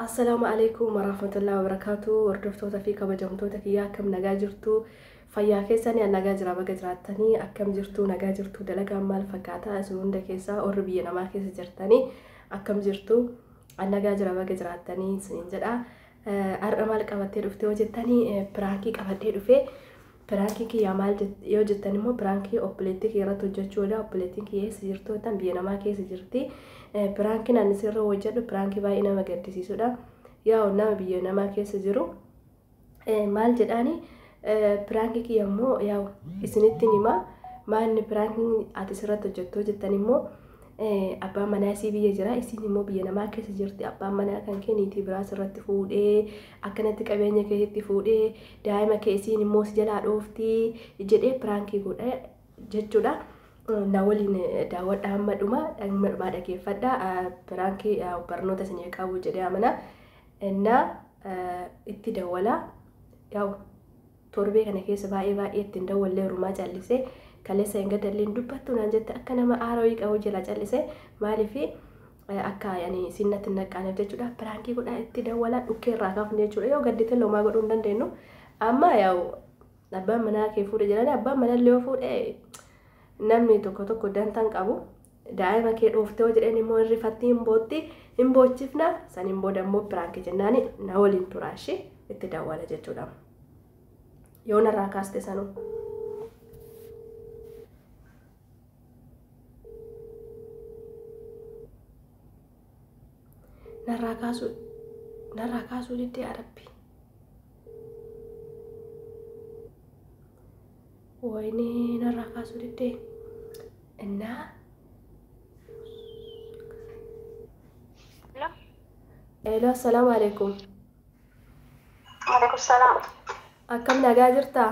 Assalaamu aleykum warahmatullahi wabarakaatuh hordoftoota fi kabajamtoota kiyyaa akkam nagaa jirtu fayyaa keessanii an nagaa jira baga jiraattanii akkam jirtu nagaa jirtu dalagaan maal fakkaataa isin hunda keessaa warri biyya namaa keessa jirtanii akkam jirtu an nagaa jira baga jiraattanii isiniin jedha har'a maal qabattee dhuftee hojjettanii piraankii qabadhee dhufee Piraankii kiyyaa maal jette yoo jettan immoo piraankii obboleettii kiyya irratti hojjechuudha. Obboleettiin kiyya eessa jirtu jettan biyya namaa keessa jirti. Piraankiin ani sirra hojjedhu piraankii baay'ee nama gaddisiisudha. Yaa'u nama biyya namaa keessa jiru maal jedhaani piraankii kiyya immoo yaa'u isinittiin hima maanni piraankiin ati sirratti hojjettu jettan immoo abbaan manaa isii biyya jira isiin immoo biyya namaa keessa jirti abbaan manaa kan kee niitii biraa sirratti fuudhee akkanatti qabeenya keetitti fuudhee daa'ima kee isiin immoo si jalaa dhoofti jedhee piraankii godha jechuudha. Na waliin daawwadha hamma dhuma hamma dhumaa dhageeffadha piraankii barnoota isinii qabu jedhee amana na itti dawwala yaa'u torbee kana keessa baay'ee baay'ee ittiin dawwallee rumaa callisee kaleessa hin gadalleen dubbattu naan jette akka nama aara wayii qabu jira callisee maaliif akka yani siin natti hin naqqaaneef jechuudha piraankii godhaa itti dawwalaa dhukkee irraa kaafne jechuudha yoo gaddite lomaa godhuu hin dandeenyu amma yaa'u abbaan manaa kee fuudhe jedhanii abbaan manaa illee yoo fuudhe namni tokko tokko dantaan qabu daa'ima kee dhooftee yoo jedheen immoo hin rifattii hin bootti hin boochifna saniin booda immoo piraankii jennaani na waliin turaa ishee itti dawwala jechuudha yoo narraa kaaste sanuu. narraa kaasuu narraa kaasuu diddee arabbi wayne narraa kaasuu diddee innaa Hello, assalaamu alaikum. Maaleykum salaam. Akkam nagaa jirtaa?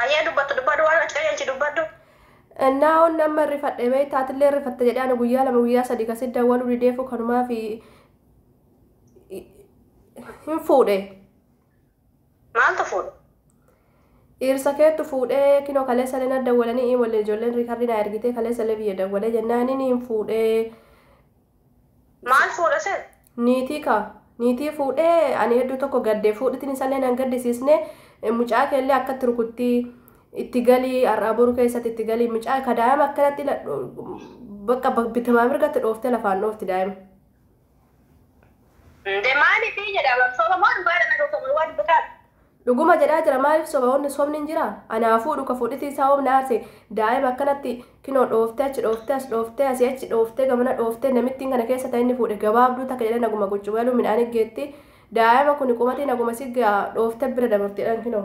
Hayyee dubbattu dubbadhu waan ati qajeelchi dubbadhu. Naa'oon amma rifadhe beekta atillee rifatta jedhee ani guyyaa lama guyyaa sadii kasi dawwaluu dideefuu kanumaa fi hin fuudhe. Maaltu fuudhe? Dhiirsa keetu fuudhee kinoo kaleessa illee na dawwalanii imallee ijoolleen riikarrii naa ergitee kaleessa illee biyya dawwalee jennaan inni hin fuudhee Maal fuudha sen? Niitii kaa. Niitii fuudhee ani hedduu tokko gadde fuudhitiin isallee nan gaddisiisne mucaa keellee akkatti rukutti itti galii har'aa boru keessatti itti galii mucaa ka daa'ima akkanatti bakka bitamaa mirgatti dhooftee lafaan dhoofti daa'ima. Nde maalifii jedha bar soba moo dhugaa dha naga koo dhugaa dubbataa. Dhuguma jedhaa jira maalif soba wanni sobni hin jira anaa fuudhu ka fuudhitii isaa hoom na aarse daa'ima akkanatti kinoo dhooftee achi dhooftee as dhooftee asi achi dhooftee gamana dhooftee namittiin kana keessa ta inni fuudhe gabaabduu takka jedhan naguma guccubaluu midhaan iggeetti daa'ima kuni qubatiin haguma sigga dhooftee bira dabarti jedhan kinoo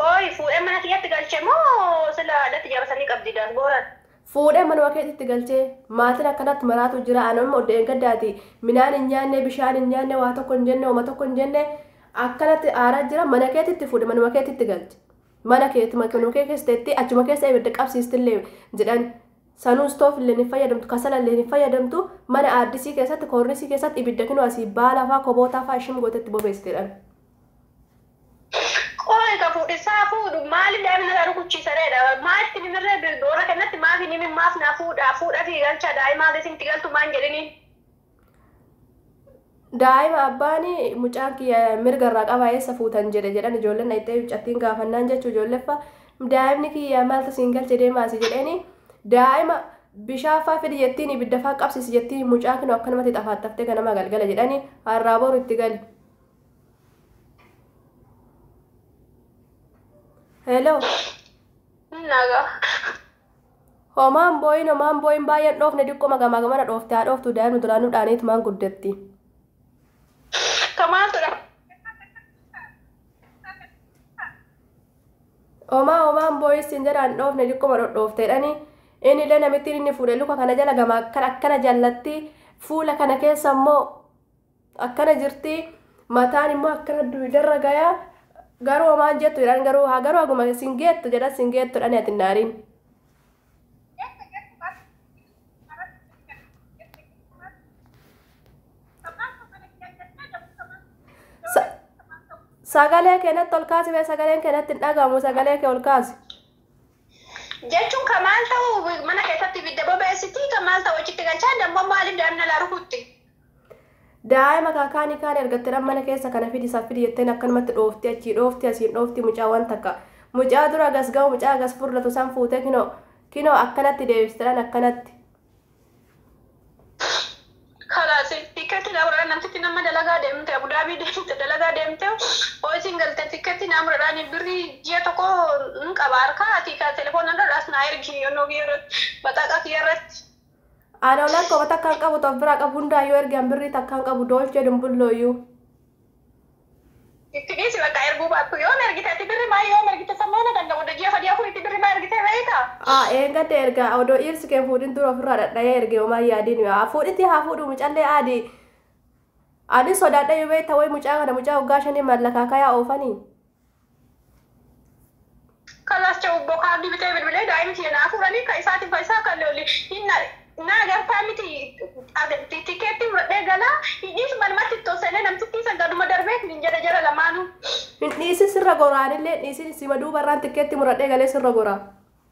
Qoy fuudhee mana kiyyatti galche moo sila addatti jaarsanii qabdi daasbooraan. Fuudhee manuma keetitti galchee. Maatiin akkanatti maraatu jira an amma dheengaddaati minaan hin nyaanne bishaan hin nyaanne waa tokko hin jenne homa tokko hin jenne akkanatti aaraa jira mana keetitti fuudhe manuma keetitti galche mana keeti manuma kee keessa teetti achuma keessa ibidda qabsiistillee jedhan sanuu istoofillee hin fayyadamtu kasalallee hin fayyadamtu mana aaddisii keessatti koornisii keessatti ibidda kinoo asii baalafaa kobootaafaa ishim gootetti bobeessitedhan. Qoy ka fuudhisaa fuudhu maaliif daa'ima narraa rukuchiisa reedha maatti mimirree bil boorra kennatti maaf hin himin maaf naa fuudhaa fuudha fi galchaa daa'imaa hanga isinitti galtu maan jedhiniin. Daa'ima abbaani mucaan kiyya mirga irraa qaba eessa fuutan jedhe jedhan ijoolleen dhayxee mucattiin gaafannaan jechu ijoolleffa daa'imni kiyya maaltu siin galche deemaasi jedheeni daa'ima bishaaffaa fidi jettiin ibiddafaa qabsisi jettiin mucaa kinu akkanumatti xafaaxaftee ganama galgala jedhani harraa boru itti gali. Hello. Naga. Homaan booyin homaan booyin baay'een dhoofne diqqoma gamaa gamana dhoofte haa dhooftu daa'imni duraanuu dhaaniit maan guddatti. Kamaa tura. Homaa homaan booyin siin jedhaan dhoofne diqqoma dhodhoofteedhani. Inni illee namittiin inni fuudhe luka kana jala gamaa akkana jallatti fuula kana keessa immoo akkana jirti mataan immoo akkana duwidarra gayaa garuu homaan jettu jedhan garuu haa garuu haguma sin geettu jedhan sin geettu dhani ati naariin. Sagalee keenyatti ol kaasi bee sagaleen keenyatti hin dhagahamu sagalee kee ol kaasi. Jechuun kan maal ta'u mana keessatti ibidda bobeessiti kan maal ta'u achitti galchaa dammoo maaliif daa'imna laa rukutti. Daa'ima kaakaanii kaan argatte dhan mana keessa kana fidi san fidi jetteen akkanumatti dhoofti achii dhoofti asiin dhoofti mucaa waan takka mucaa dura agas ga'u mucaa agas furratu san fuutee kinoo kinoo akkanatti deebiste dhan akkanatti. Kalaas tikkeetti naa muradhaan namtitti nama dalagaa deemte abudaabii deemte dalagaa deemte hoo isiin galte tikkeetti naa muradhaan birrii ji'a tokko hin qaba harkaa ati telefoona irra as naa ergi yonoo kiyya irratti baxaaqa kiyya irratti. Ani olan koma takkaan qabu tof biraa qabu hundaa yoo erge an birrii takkaan qabu dolce dumbulloo you. Itti dhiisi bakka erguu baattu yoom ergite ati birri maa yoom ergite san moo na danda'a odda ji'a sadii afuritti birri maa ergitee beeyta. A eengadda erga odoo dhiirsi kee hin fuudhin dura ofirraa dhadhayee erge homaa hin yaadin A fuudhitii haa fuudhuu mucallee aadi Anis sodaadhayyu beeyta way mucaa kana mucaa waggaa shanii maal lakaakayaa oofanii. Kalaas cha'u ubboo kaardii bitee bilbilee daa'ima kiyya naa fuudhanii ka isaatiif ka isaa kan lolli hin na naa gartaa miti tikeettii muradhee galaa hin dhiisu manumatti itti ol seenee namtittii san gaduma darbee hin jedhe jara lamaanuu. Hin dhiisin sirra goraa anillee hin dhiisin sima duubarraan tikkeettii muradhee galee sirra goraa.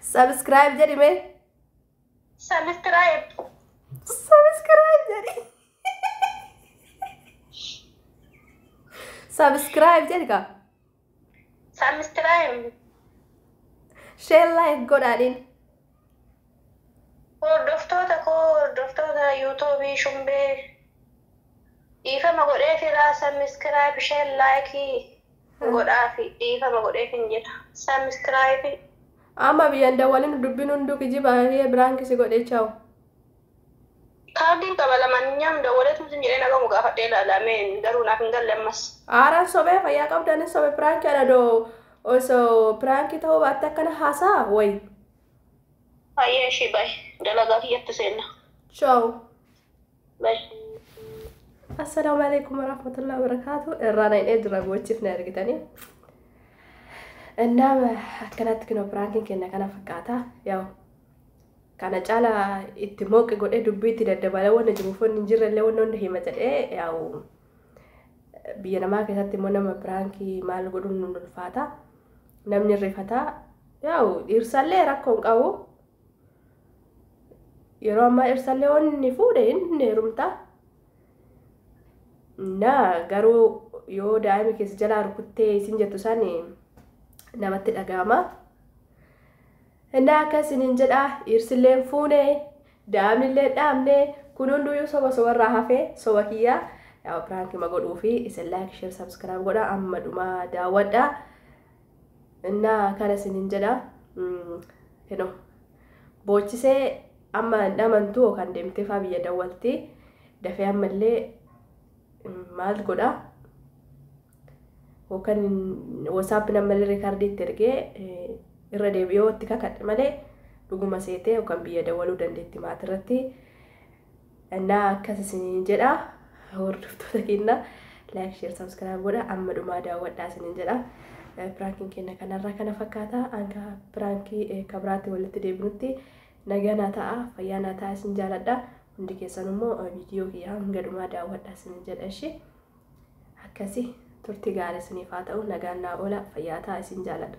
Subscribe jedhi mee. Subscribe. Subscribe jedhi. Subscribe jedhi kaa. Subscribe. Share like godhaadhiin. Hordoftoota koo hordoftoota yuutuubii shumbee dhiifama godhee firaa subscribe share like godhaafi dhiifama godheefin jira subscribe. Amma biyya hin dawwalin dubbin hunduu kijiba Ahiye brank si godhe chaw. Kaardiin qaba lamaanyinyawm dawwaleetum sin jedhee nagamu gaafadhee ilaala mee garuu naaf hin galle ammas. Aaran sobee fayyaa qabda anis sobe prank ana do oso prank ta'uu baatte akkana haasaa way. Hayyee ishii bye dalagaa kiyyatti seenna. Chaw. Mash. Assalaamu alaikum warahmatullahi wabarakatuh. Irraa na hin eedura gochiif na ergitanii. Innaam akkanatti kinoo piraankiin kenna kana fakkaata. Yaa'u kana caala itti mooqi godhee dubbii itti daddabalee wanna jiruuf wanni hin jirrellee wanna hunda hima jedhee yaa'u biyya namaa keessatti immoo nama piraankii maal godhuun nu ulfaata. Namni rifataa yaa'u dhiirsaallee rakkoo hin qabu. yeroo ammaa ibsallee waan inni fuudhe inni heerumta na garuu yoo daa'ima keessa jalaa rukuttee isin jettu san namatti dhaga'ama innaa akka isiniin jedha dhiirsilleen fuune daa'imnillee dhaabne kun hunduyyuu soba sobarraa hafee soba kiyyaa yaa piraanki ma godhuu fi isin laayik sheer sabskiraayib godha amma dhumaa daawwadha Innaa kana isiniin jedha kino boochisee amma hin dhamantu yookaan deemtee faa biyya dawwalti dafee ammallee maal godha yookaan wasaappiin ammallee riikardii itti ergee irra deebi'ee itti kakadhe malee dhuguma seetee yookaan biyya dawwaluu dandeetti maatirratti. Annaa akkas isiniin jedha hordoftoota keenya like share subscribe godha amma dhumaa daawwadhaa isiniin jedha. Eh, Piraankiin keenya kanarraa kana fakkaata hanga piraankii eh, ka biraatti walitti deebinutti nagaa naa ta'a fayyaa naa ta'a isin jaaladha hundi keessan immoo eh, viidiyoo kiyya hanga dhumaa daawwadhaa isiniin jedha ishee akkasi turtii gaarii isiniif haa ta'u nagaan naa oola fayyaa ta'a isin jaaladha.